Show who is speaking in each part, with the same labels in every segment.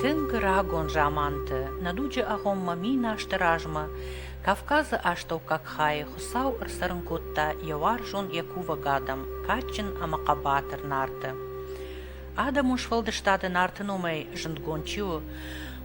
Speaker 1: Тынг рагон заманты нӕ дуджы агъоммӕ мин азты размӕ Кавказы астӕуккаг хайы Хуыцау ӕрцӕрын кодта йӕ уарзон йӕ кувӕг адӕм кадджын ӕмӕ хъӕбатыр Нарты. Адӕмон сфӕлдыстады Нарты номӕй зындгонд чи у,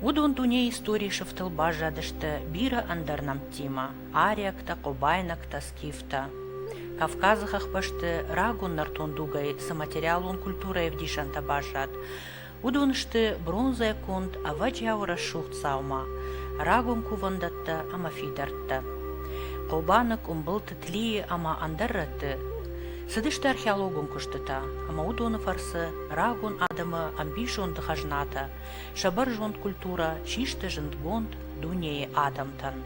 Speaker 1: уыдон дунейы историйы сыфтыл баззадысты бирӕ ӕндӕр нӕмттимӕ. ариӕгтӕ, къобайнӕгтӕ, скифтӕ. Кавказы хӕхбӕсты рагон нӕртон дугӕй цы материалон культурӕйы ӕвдисӕнтӕ баззад, уыдон сты бронзӕ конд, ӕвӕджиауы рӕсугъд дзаума, рагон кувӕндӕттӕ ӕмӕ фидӕрттӕ. Хъобаны, къуымбылты, тлийы ӕмӕ ӕндӕр рӕтты цыдысты археологон куыстытӕ, ӕмӕ уыдоны фӕрцы рагон адӕмы ӕмбисонды хӕзнатӕ, сӕ бӕрзонд культурӕ систы зындгонд дунейы адӕмтӕн.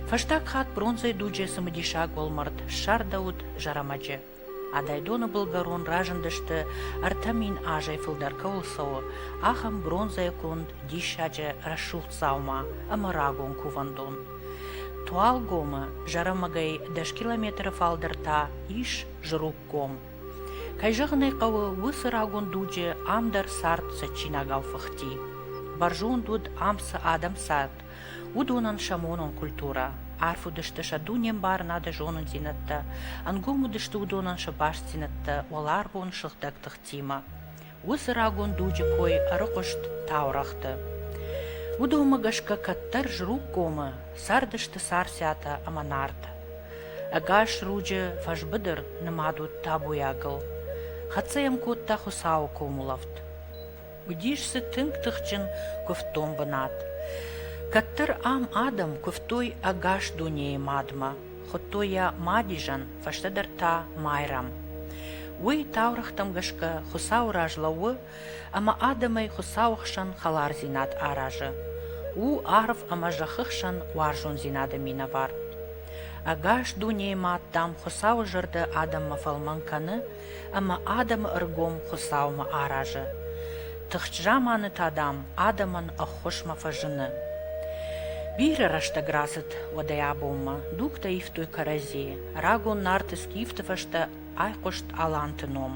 Speaker 1: Фӕстаг хатт бронзӕйы дуджы цымыдисаг уӕлмӕрд ссардӕуыд Зӕрӕмӕджы. Адайдоны былгӕрон разындысты, ӕртӕ мин азӕй фылдӕр кӕуыл цӕуы, ахӕм бронзӕйы конд диссаджы рӕсугъд дзаума ӕмӕ рагон кувӕндон. Туалгомы Зӕрӕмӕгӕй дӕс километры фалдӕр та ис Зруггом. Кӕй зӕгъын ӕй хъӕуы, уыцы рагон дуджы ам дӕр цард цӕджджинагау фыхти. Бӕрзонд уыд ам цы адӕм цард, Уыдонӕн сӕ монон культурӕ, арф уыдысты сӕ дунембарынады зонындзинӕдтӕ, ӕнгом уыдысты уыдонӕн сӕ бастдзинӕдтӕ уӕларвон сыгъдӕг тыхтимӕ. Уыцы рагон дуджы кой ӕрыхъуыст таурӕгъты. Уыдонмӕ гӕсгӕ кӕддӕр Зруггомы цардысты Царциатӕ ӕмӕ Нарт. Ӕгас руджы фӕсбыдыр нымад уыд табуйагыл. Хӕццӕ йӕм кодта Хуыцауы комулӕфт. Уыдис дзы тынг тыхджын куывддон бынат. Кӕддӕр ам адӕм куывтой ӕгас дунейы мадмӕ, хуыдтой йӕ Мадизӕн, фӕстӕдӕр та Майрӕм. Уый таурӕгътӕм гӕсгӕ Хуыцауы раз лӕууы ӕмӕ адӕмӕй Хуыцауы хсӕн хӕлардзинад аразы. У арв ӕмӕ зӕххы хсӕн уарзондзинады минӕвар. Ӕгас дунейы мад, дам, Хуыцауы зӕрдӕ адӕммӕ фӕлмӕн кӕны ӕмӕ адӕмы ӕргом Хуыцаумӕ аразы. Тыхджын заманы та, дам, адӕмӕн ӕххуысмӕ фӕзыны. Бирӕ рӕстӕг рацыд уӕдӕй абонмӕ, дугтӕ ивтой кӕрӕдзийы. Рагон Нарты скифты фӕстӕ айхъуыст Аланты ном.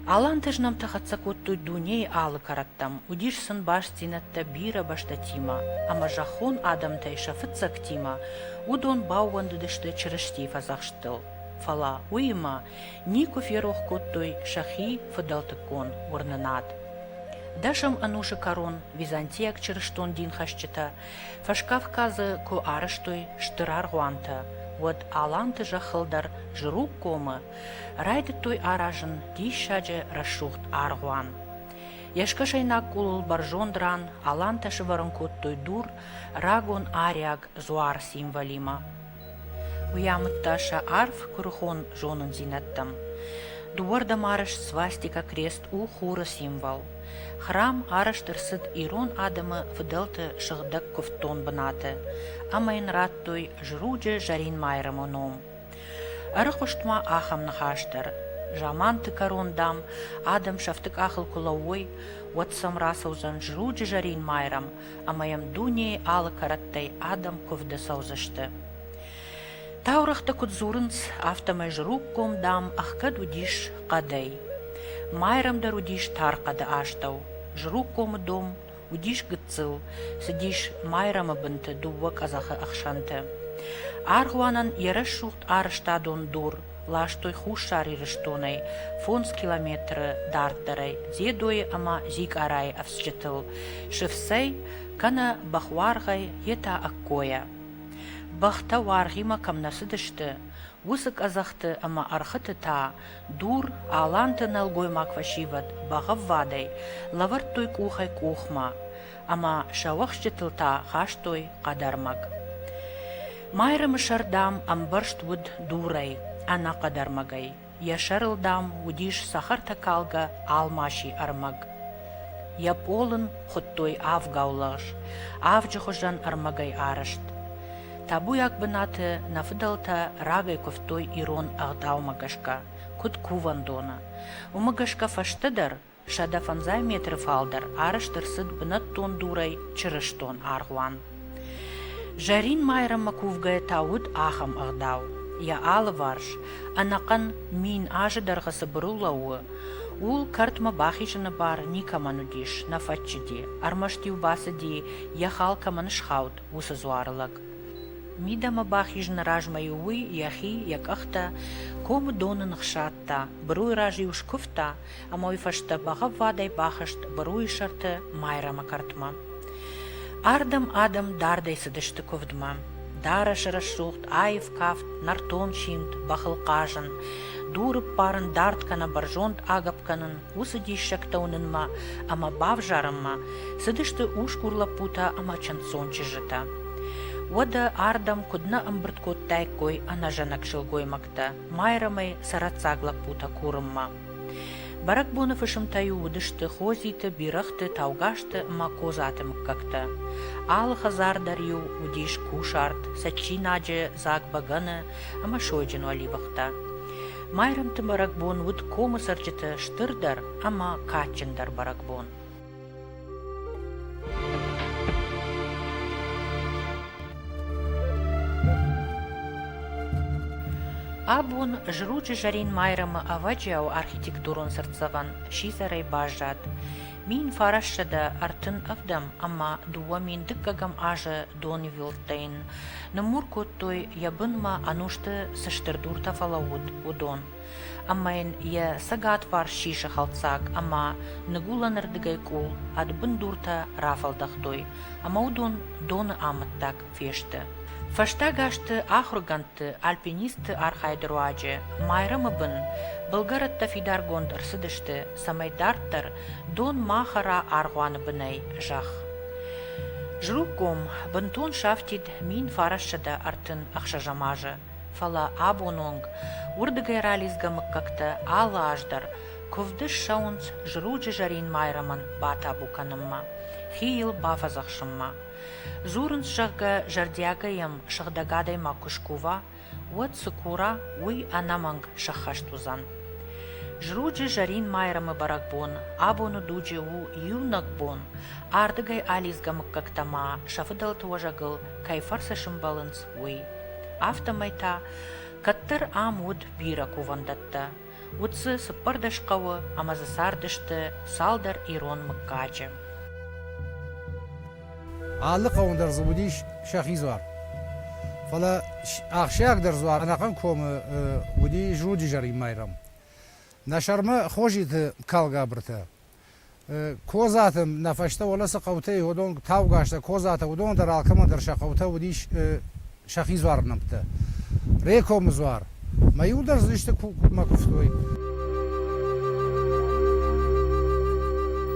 Speaker 1: Аланты знӕмтӕ хӕццӕ кодтой дунейы алы кӕрӕттӕм, уыдис сын бастдзинӕдтӕ бирӕ бӕстӕтимӕ, ӕмӕ зӕххон адӕмтӕй сӕ фыццӕгтимӕ уыдон баууӕндыдысты Чырыстийы фӕдзӕхсттыл. фӕлӕ уыимӕ никуы ферох кодтой сӕхи фыдӕлтыккон уырнынад. Дӕсӕм ӕнусы кӕрон византийаг чырыстон динхӕсджытӕ Фӕскавказы куы арӕзтой стыр аргъуантӕ, уӕд аланты зӕххыл дӕр Зруггомы райдыдтой аразын диссаджы рӕсугъд аргъуан. Йӕ скӕсӕйнаг къулыл бӕрзонд ран алантӕ сывӕрын кодтой дур рагон ариаг дзуар символимӕ. Уый амыдта сӕ арф куырыхон зонындзинӕдтӕм. Дыууӕрдӕм арӕзт свастика крест у хуры символ. Храм арӕзт ӕрцыд ирон адӕмы фыдӕлты сыгъдӕг куывддон бынаты ӕмӕ йын радтой Жруджы Зӕринмайрӕмы ном. Ӕрыхъуыст ма ахӕм ныхас дӕр: Заманты кӕрон, дам, адӕм сӕфты къахыл куы лӕууой, уӕд сӕм рацӕудзӕн Жруджы Зӕринмайрӕм ӕмӕ йӕм дунейы алы кӕрӕттӕй адӕм куывды цӕудзысты. Таурӕгъты куыд дзурынц, афтӕмӕй зруггом, дам, ӕхгӕд уыдис хъӕдӕй. Майрӕмдӕр уыдис тар хъӕды астӕу. Зруггомы дом уыдис гыццыл, цыдис майрӕмы бынты дыууӕ къӕдзӕхы ӕхсӕнты. Аргъуанӕн йӕ рӕсугъд арӕзтадон дур ластой Хуссар Ирыстонӕй фондз километры дарддӕрӕй Дзедойы ӕмӕ Зикъарайы ӕфцджытыл, сыфцӕй, кӕнӕ бӕхуаргъӕй йе та ӕккойӕ. Бӕхтӕ уаргъимӕ кӕм нӕ цыдысты, уыцы къӕдзӕхты ӕмӕ ӕрхыты та дур, аланты нӕлгоймаг фӕсивӕд бӕгъӕввадӕй лӕвӕрдтой къухӕй-къухмӕ, ӕмӕ сӕ уӕхсчытыл та хастой хъӕдӕрмӕг. Майрӕмы сӕр, дам, ӕмбӕрзт уыд дурӕй, ӕнӕ хъӕдӕрмӕгӕй. Йӕ сӕрыл, дам, уыдис цӕхӕртӕкалгӕ алмаси ӕрмӕг. Йӕ пъолын хуыдтой авгау лӕгъз, авджы хуызӕн ӕрмӕгӕй арӕзт. Табуйаг бынаты нӕ фыдӕлтӕ рагӕй куывтой ирон ӕгъдаумӕ гӕсгӕ, куыд кувӕндоны. Уымӕ гӕсгӕ фӕстӕдӕр сӕдӕ фӕндзай метры фалдӕр арӕзт ӕрцыд бынӕттон дурӕй чырыстон аргъуан. Зӕрин майрӕмы кувгӕ та уыд ахӕм ӕгъдау, йӕ алыварс, ӕнӕхъӕн мин азы дӕргъы цы быру лӕууы, ууыл кӕртмӕ бахизыны бар никӕмӕн уыдис, нӕ фӕччыди, ӕрмӕст-иу бацыди, йӕ хал кӕмӕн схауд, уыцы дзуары лӕг. Мидӕмӕ бахизыны размӕ-иу уый йӕхи, йӕ къӕхтӕ комы доны ныхсадта, быруйы раз-иу скуывта ӕма уой фӕсте бӕгъӕввадӕй бахызт бруйы сӕрты Майрӕмы кӕртмӕ. Ардӕм адӕм дардӕй цыдысты куывдмӕ. Дарӕс-рӕсугъд, аив кафт, нӕртон симд, бӕхыл хъазын, дуры ппарын дард кӕнӕ бӕрзонд агӕпп кӕнын, уыцы диссӕгтӕ уынынмӕ ӕмӕ бавзарынмӕ цыдысты усгур лӕппутӕ ӕмӕ чындздзон чызджытӕ. Уӕдӕ ардӕм куыд нӕ ӕмбырд кодтаиккой ӕнӕзӕнӕг сылгоймӕгтӕ Майрӕмӕй сӕрӕццаг лӕппутӕ курынмӕ. Бӕрӕгбоны фысымтӕ-иу уыдысты Хозиты, Бирӕгъты, Таугазты ӕмӕ Козаты мыггӕгтӕ. Алы хӕдзар дӕр-иу уыдис кусарт, цӕджджинаджы дзаг бӕгӕны ӕмӕ сойджын уӕливыхтӕ. Майрӕмты бӕрӕгбон уыд комы цӕрджыты стырдӕр ӕмӕ кадджындӕр бӕрӕгбон. Абон зруджы зӕрин майрӕмы ӕвӕджиау архитектурон цыртдзӕвӕн сидзӕрӕй баззад. Мин фарӕссӕдӕ ӕртын ӕвдӕм ӕмӕ дыууӕ мин дыккӕгӕм азы донвӕлдтӕн ныммур кодтой, йӕ бынмӕ ӕнусты цы стыр дуртӕ фӕлӕууыд, уыдон. ӕмӕ йын йӕ цӕгатбарс сисы хӕлцаг ӕмӕ ныгуылӕнырдыгӕй къул ӕд бындуртӕ рафӕлдӕхтой ӕмӕ уыдон доны амӕттаг фесты. Фӕстаг азты ахуыргӕндты, альпинистты архайды руаджы Майрӕмы бын былгӕрӕттӕ фидаргонд ӕрцыдысты, цӕмӕй дарддӕр дон ма хӕра аргъуаны бынӕй зӕхх. Зруггом бынтон сафтид мин фарассӕдӕ ӕртын ӕхсӕзӕм азы. фӕлӕ абон онг уырдыгӕй ралидзгӕ мыггӕгтӕ алы аз дӕр куывды ссӕуынц зруджы зӕрин майрӕмӕн батабу кӕнынмӕ, хи йыл бафӕдзӕхсынмӕ. Дзурынц, зӕгъгӕ, зӕрдиагӕй йӕм сыгъдӕг адӕймаг куы скува, уӕд цы кура, уый ӕнӕмӕнг сӕххӕст уыдзӕн. Зруджы зӕрин майрӕмы бӕрӕгбон абоны дуджы у иунӕг бон, ардыгӕй алидзгӕ мыггӕгтӕ ма сӕ фыдӕлты уӕзӕгыл кӕй фӕрцы сӕмбӕлынц, уый. Афтӕмӕй та кӕддӕр ам уыд бирӕ кувӕндӕттӕ. Уыд дзы цыппӕрдӕс хъӕуы ӕмӕ дзы цардысты цалдӕр ирон мыггаджы.
Speaker 2: Алы хъӕуӕн дӕр дзы уыдис сӕхи дзуар. Фӕлӕ ахсджиагдӕр дзуар ӕнӕхъӕн комы уыди Зруджы зӕрин майрӕм. Нӕ сӕрмӕ Хозиты калгабыртӕ Козаты нӕ фӕстӕ Олӕсы хъӕутӕй уыдон таугазтӕ, Козатӕ, уыдон дӕр алкӕмӕ дӕр сӕ хъӕутӕ уыдис сӕхи дзуар нӕмттӕ. Рекомы дзуар. Мӕ иу дӕр дзы исты куыпмӕ куывтой.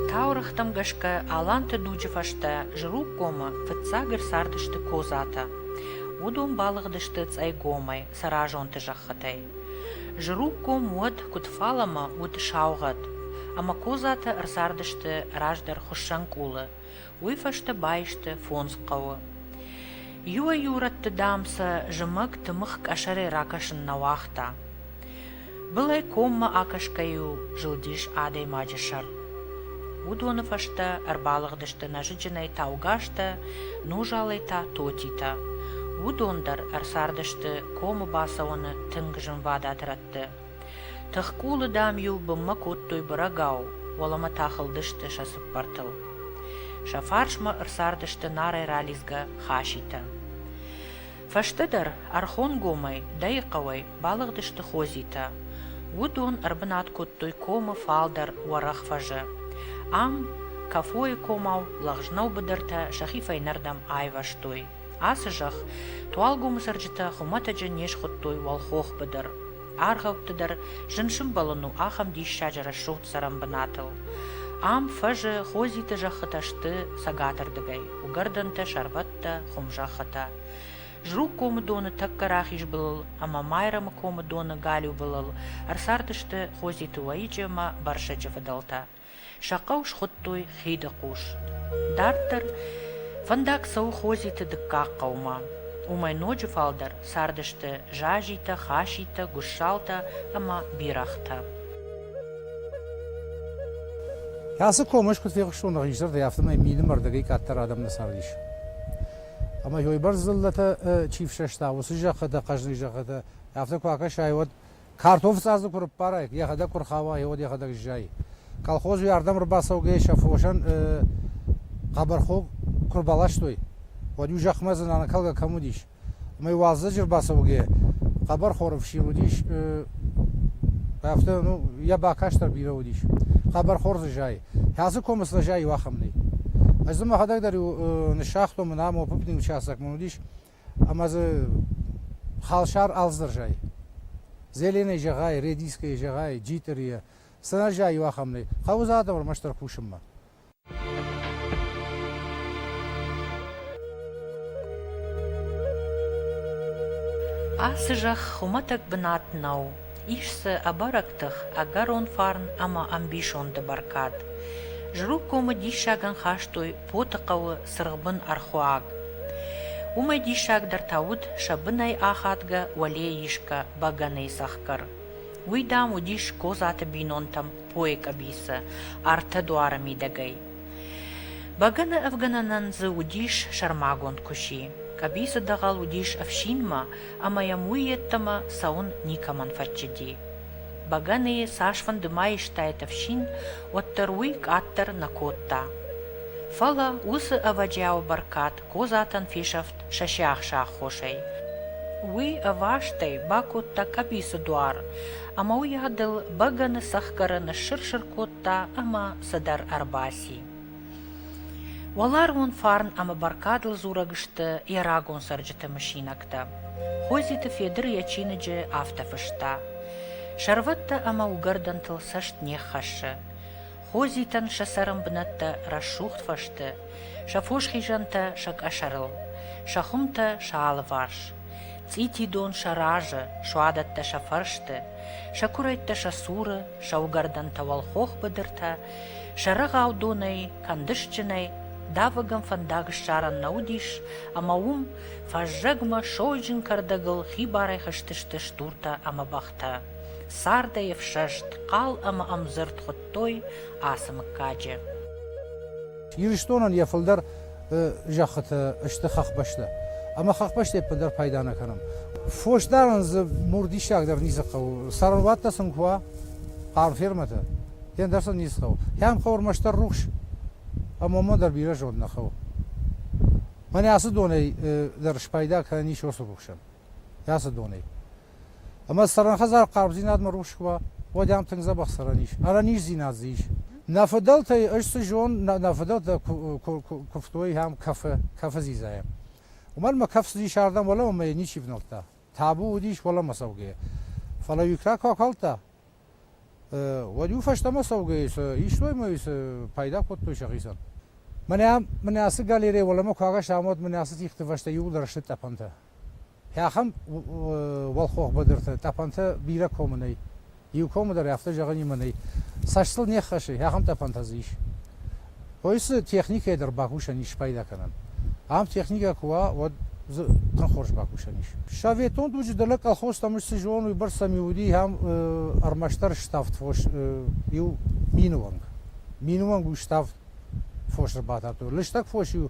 Speaker 1: Таурӕгътӕм гӕсгӕ аланты дуджы фӕстӕ Зруггомы фыццаг ӕрцардысты Козатӕ. Уыдон балыгъдысты Цъӕйгомӕй. Цӕразонты зӕххытӕй. Зырухъгом уӕд куыд фалӕмӕ уыд саугъӕд, ӕмӕ козатӕ ӕрцардысты раздӕр хуыссӕнкъулы, уый фӕстӕ баисты фондз хъӕуы. Иуӕй-иу рӕтты, дам, сӕ зымӕг тымыгъ къӕсӕрӕй ракӕсын нӕ уагъта. Былӕй коммӕ акӕсгӕ-иу зылдис адӕймаджы сӕр. Уыдоны фӕстӕ ӕрбалыгъдысты нӕзыджынӕй таугазтӕ, нузалӕй та тотитӕ. Уыдон дӕр ӕрцардысты комы бацӕуӕны тынг зынвадат рӕтты. Тыхкъулы, дам-иу бынмӕ кодтой бырӕгау, уӕлӕмӕ та хылдысты сӕ цыппӕртыл. Сӕ фарсмӕ ӕрцардысты нарӕй ралидзгӕ хаситӕ. Фӕстӕдӕр Ӕрхонгомӕй, дӕйы хъӕуӕй, балыгъдысты Хозитӕ. Уыдон ӕрбынат кодтой комы фалдӕр уӕрӕх фӕзы. Ам Кафойы комау лӕгъзнау быдыртӕ сӕхи фӕйнӕрдӕм айвӕзтой. Ацы зӕхх Туалгомы цӕрджытӕ хуымӕтӕджы не схуыдтой уӕлхох быдыр. Аргъӕутты дӕр зын сымбӕлын у ахӕм диссаджы рӕсугъд цӕрӕн бынатыл. Ам фӕзы Хозиты зӕххытӕ сты цӕгатырдыгӕй, уыгӕрдӕнтӕ, сӕрвӕттӕ, хуымзӕххытӕ. Зруг комы доны тӕккӕ рахиз былыл ӕмӕ Майрӕмы комы доны галиу былыл ӕрцардысты Хозиты уӕйыджы ӕмӕ Барсӕджы фыдӕлтӕ. Сӕ хъӕу схуыдтой Хиды хъус. Дарддӕр фӕндаг цӕуы Хозиты дыккаг хъӕумӕ. Уымӕй ноджы фалдӕр цардысты Зазитӕ, Хаситӕ, Гуссалтӕ ӕмӕ Бирӕгътӕ.
Speaker 2: Ацы комӕй куыд фехъуыстон нӕ хисӕрдӕй, афтӕмӕй милым ӕрдӕгӕй къаддӕр адӕм нӕ цардис. Ӕмӕ, ёйбӕрц дзыллӕтӕ чи фсӕста, уыцы зӕххытӕ, хъӕзныйы зӕххытӕ, афтӕ куы акӕсай, уӕд Картоф цъазы куы рыппарай, йӕхӕдӕг куы рхауа, йӕ уӕд йӕхӕдӕг ззайы. Колхоз уӕрдӕм ӕрбацӕугӕйӕ сӕ фосӕн хъӕбӕрхог куы рбаластой, уӕд-иу зӕхмӕ дзы нанакалгӕ кӕм уыдис. Ӕмӕ уалдзӕджы ӕрбацӕугӕйӕ хъӕбӕр хоры фсир уыдис, афтӕ, ну, йӕ бакаст дӕр бирӕ уыдис. Хъӕбӕрхор дзы зайы. Хӕцы комы цы зайы, иу ахӕм нӕй. Ӕз дзы мӕхӕдӕг дӕр-иу ныссагътон, мын ам опыпнил участок мын уыдис, ӕма дзы халсар алдзӕрзӕй. Зеленӕй зӕгъай, редискӕй зӕгъай, джитъӕри е, сӕнӕззаййу ахӕмнӕй, гъӕудзӕнӕтӕ ӕрмӕстдӕр кусунмӕ. Ацы
Speaker 1: зӕхх хуымӕтӕг бынат нӕу. Ис дзы ӕбӕрӕг тых, ӕгӕрон фарн ӕмӕ ӕмбисонды бӕркад. Жрук комы диссагӕн хастой Потыхъӕуы цыргъбын ӕрхуаг. Уымӕй диссагдӕр та уыд сӕ бынӕй ахадгӕ уӕлейы исгӕ бӕгӕныйы цӕхгӕр. Уый, дам, уыдис Козаты бинонтӕм пойы къӕбицы, ӕртӕ дуары мидӕгӕй. Бӕгӕны ӕвгӕнӕнӕн дзы уыдис сӕрмагонд куыси. Къӕбицы дӕгъӕл уыдис ӕфсинмӕ, ӕмӕ йӕм уый йедтӕмӕ цӕуын никӕмӕн фӕччыди. Бӕгӕныйы цасфӕнды ма истаид ӕфсин, уӕддӕр уый къаддӕр нӕ кодта. Фӕлӕ уыцы ӕвӕджиауы бӕркад Козатӕн фесӕфт сӕ сиахсы аххосӕй. Уый ӕвастӕй бакодта къӕбицы дуар ӕмӕ уыйадыл бӕгӕны цӕхгӕры ныссыр-сыр кодта ӕмӕ цыдӕр ӕрбаци. Уӕларвон фарн ӕмӕ бӕркадыл дзурӕг сты йӕ рагон цӕрджыты мысинӕгтӕ. Хойдзеты Федыр йӕ чиныджы афтӕ фыста: «Сӕрвӕттӕ ӕмӕ уыгӕрдӕнтыл цӕст не ххӕссы. Хойдзитӕн сӕ цӕрӕн бынӕттӕ рӕсугъд фӕсты, сӕ фос хизӕнтӕ сӕ къӕсӕрыл, сӕ хуымтӕ сӕ алыварс. Цъити дон сӕ разы, суадӕттӕ сӕ фӕрсты, сӕ куырӕйттӕ сӕ цуры, сӕ уыгӕрдӕнтӕ уӕлхох быдыртӕ Сӕрӕгау донӕй, кӕндысджынӕй давӕгӕн фӕндаг ссарӕн нӕ уыдис, ӕмӕ уым фӕззӕгмӕ сойджын кӕрдӕгыл хибарӕй хызтысты стуртӕ ӕмӕ бӕхтӕ. Цардӕй ӕфсӕст, хъал ӕмӕ ӕмдзырд хуыдтой ацы мыггаджы.
Speaker 2: Ирыстонӕн йӕ фылдӕр зӕххыты сты хӕхбӕстӕ. Ӕмӕ хӕхбӕсты еппӕт дӕр пайда нӕ кӕнӕм. Фосдарӕн дзы мур диссагдӕр ницы хъӕуы. Сӕрвӕттӕ сын куы уа, хъарм фермӕтӕ, фен дӕр сын ницы хъӕуы. Кӕм хъӕуы ӕрмӕстдӕр рухс, ӕмӕ мӕ дӕр бирӕ зонд нӕ хъӕуы. Мӕнӕ ацы донӕй дӕр спайда кӕнӕн ис уыцы рухсӕн. Ацы донӕй. Ӕма цӕрӕнхӕдзар хъарбдзийнадмӕ рухс куы уа, уӕд ӕм тынг дзӕбӕх цӕрӕн ис, ӕрӕниздзинад дзы ис. Нӕ фыдӕлтӕй ӕз цы зон, нӕ, нӕ фыдӕлтӕ куывтой ам кӕфы, кӕфы дзидзайӕ. Уымӕн мӕ кӕф цыдис ардӕм уӕлӕмӕ мӕ йӕ ничи внӕлдта. Табу уыдис уӕлӕмӕ цӕугӕйӕ. Фӕлӕ Юкра куы акалдта, уӕд-иу фӕстӕмӕ цӕугӕйӕ истой мӕ пайда кодтой сӕхицӕн. Мӕнӕ, мӕнӕ ацы галерейӕ уӕлӕмӕ куы агаста, уӕд мӕнӕ ацы тигъты фӕстӕ иууылдӕр сты тъӕпӕнтӕ. Ахӕм уӕлхох быдырты тъӕпӕнтӕ бирӕ комы нӕй. Иу комы дӕр афтӕ зӕгъынимӕ нӕй, цӕстыл не ххӕссы, ахӕм тъӕпӕнтӕ дзы ис. Кой цы техникӕйы дӕр бакусӕн ис спайда кӕнӕн. Ам техникӕ куы уа, уӕд дзы тынг хорз бакусӕн ис. Советон дуджы дӕлӕ колхозтӕм ӕз цы зонын, уыйбӕрц сӕм иу уыди ахӕм ӕрмӕстдӕр ставд фос, иу минуонг. Минуонг у ставд фос ӕрбатардтой. Лыстӕг фос-иу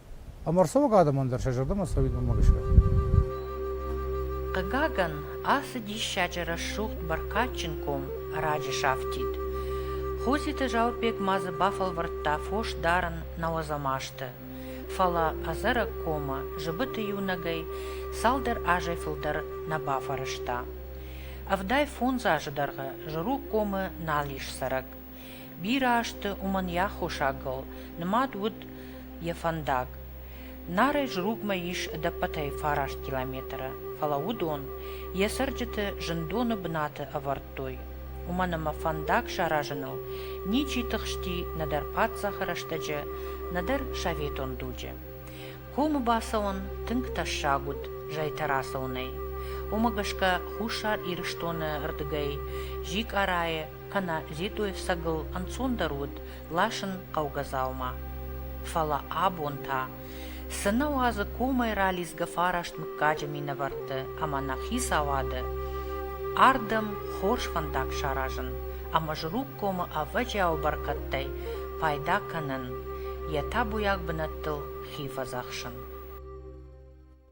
Speaker 2: Ӕмӕрцӕуӕг адӕмӕн дӕр сӕ зӕрдӕмӕ цӕуид уымӕ гӕсгӕ.
Speaker 1: Хъыгагӕн, ацы диссаджы рӕсугъд бӕркадджын ком раджы сафтид. Хозиты Зауырбег ма дзы бафӕлвӕрдта фос дарын нӕуӕдзӕмасты. Фӕлӕ ӕдзӕрӕг комы зыбыты иунӕгӕй цалдӕр азӕй фылдӕр нӕ бафӕрӕзта. Ӕвдай фондз азы дӕргъы Зыруг комы нал ис цӕрӕг. Бирӕ азты уымӕн йӕ аххосагыл нымад уыд йӕ фӕндаг. Нарӕй зругмӕ ис ӕдӕппӕтӕй фараст километры, фӕлӕ уыдон йӕ цӕрджыты зындоны бынаты ӕвӕрдтой. Уымӕн ӕмӕ фӕндаг саразыныл ничи тыхсти нӕдӕр паддзахы рӕстӕджы, нӕдӕр советон дуджы. Комы бацӕуын тынг тӕссаг уыд зӕйтӕ рацӕуынӕй. Уымӕ гӕсгӕ Хуссар Ирыстоны рдыгӕй Зикъарайы кӕнӕ Ведойфсӕгыл ӕнцондӕр уыд ласын хъӕугӕ дзаума. Фӕлӕ абон та цынӕ уадзы комӕй ралидзгӕ фараст мыггаджы минӕвӕртты ӕмӕ нӕ хицауады ардӕм хорз фӕндаг саразын ӕмӕ Жругкомы ӕвӕджиауы бӕркӕдтӕй пайда кӕнын, йӕ табуйаг бынӕттыл хи фӕдзӕхсын.